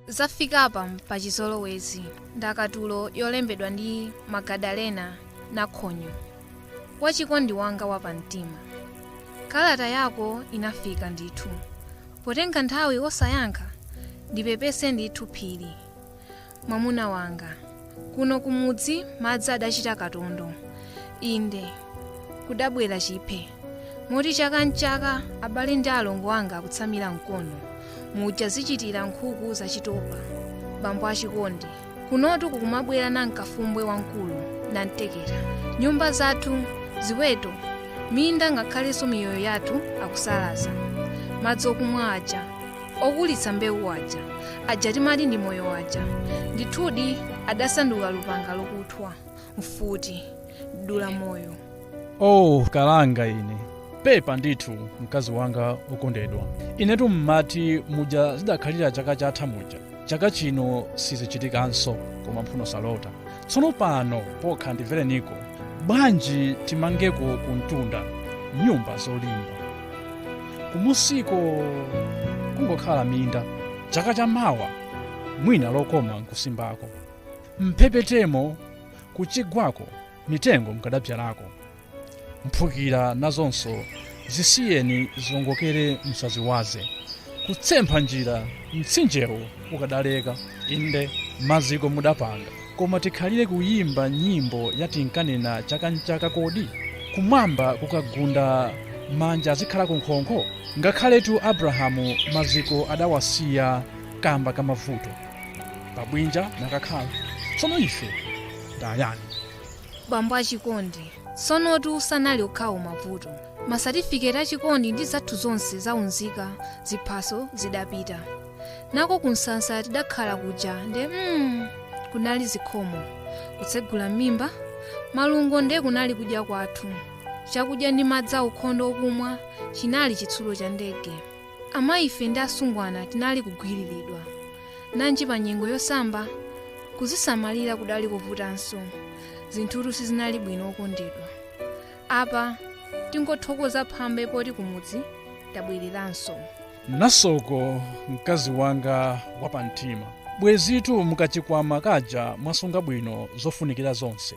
zafikapa pachizolowezi ndakatulo yolembedwa ndi magadalena nakhonyo wachikondi wanga wapamtima kalata yako inafika ndithu potenga nthawi osayankha ndipepese ndithu phiri mwamuna wanga. Kuno kumudzi madzi adachita katondo. Inde, kudabwera chiphe. Moti chaka n'chaka abale ndi alongo anga akutsamira mkono. Muja zichitira nkhuku zachitopa. Bambo achikondi. Kunotu kukumabwera nankafumbwe wamkulu, namtekera. Nyumba zathu, ziweto, minda ngakhalenso miyoyo yathu akusalaza. Madzi akumwa aja okulitsa mbewu aja aja timati ndi moyo aja ndithudi adasanduka lupanga lokuthwa mfuti dula moyo oh kalanga ine pepa ndithu mkazi wanga wokondedwa inetu mmati muja zidakhalira chaka chatha muja chaka chino sizichitikanso koma mphuno salota tsono pano pokha ndimvereniko bwanji timangeko kumtunda nyumba zolimba kumusiko kungokhala minda chaka cha mawa mwina lokoma nkusimbako mphepetemo kuchigwako mitengo mukadabzalako mphukira nazonso zisiyeni ziongokere musaziwaze kutsempha njira mtsinjewo ukadaleka inde maziko mudapanga koma tikhalire kuyimba nyimbo yatinkanena chaka nchaka kodi kumwamba kukagunda manja adzikhala kunkhonkho ngakhaletu abrahamu maziko adawasiya kamba kamavuto pabwinja nakakhala tsono ife ndayani bambo achikondi tsonotu sanali okhawo mavuto masatifiketi achikondi ndi zathu zonse zaunzika ziphaso zidapita nako kunsasa tidakhala kuja nde kunali zikhomo kutsegula m'mimba malungo nde kunali kudya kwathu chakudya ndi madzi aukhondo okumwa chinali chitsulo cha ndege Amayife ndi asungwana tinali kugwiriridwa. Nanji pa nyengo yosamba, kuzisamalira kudali kovutanso. Zinthutu sizinali bwino okondedwa. Apa tingothokoza phambe poti kumudzi tabwereranso. nasoko mkazi wanga wapamtima bwezitu mukachikwama kaja mwasunga bwino zofunikira zonse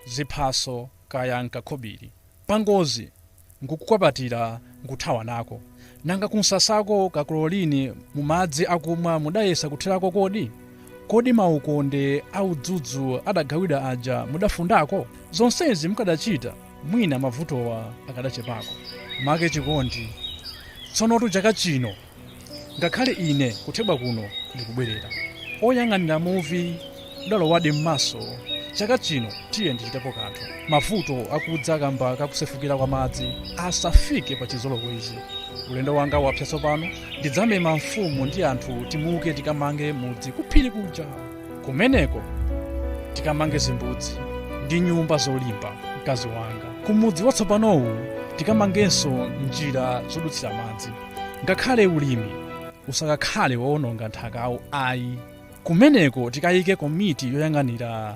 ziphaso kaya nkakhobiri pangozi nkungokwapatira nkuthawa nako. Nanga kumsasako ka chlorine mu madzi akumwa mudayesa kuthirako kodi? Kodi maukonde a udzudzu adagawidwa aja mudafundako? Zonsezi mukadachita, mwina mavutowa akadachepako. Make chikondi. Tsonotu chaka chino ngakhale ine kuthebwa kuno ndikubwerera oyang'anira muvi udalowadi m'maso chaka chino tiye ndichitepo kanthu mavuto akudza kamba kakusefukira kwa madzi asafike pa chizolowezi ulendo wanga wapsa tsopano ndidzamema mfumu ndi anthu timuke tikamange mudzi kuphiri kuja kumeneko tikamange zimbudzi ndi nyumba zolimba mkazi wanga kumudzi watsopanowu tikamangenso njira zodutsira madzi ngakhale ulimi usakakhale wowononga nthakawo ayi kumeneko tikayike komiti yoyang'anira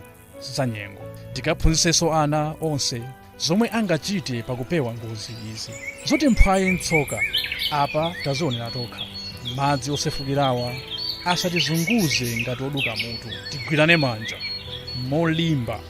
zanyengo tikaphunzitsenso ana onse zomwe angachite pakupewa ngozi izi zoti mphwayi mtsoka apa tazionera tokha madzi osefukirawa asatizunguze ngati oduka mutu tigwirane manja molimba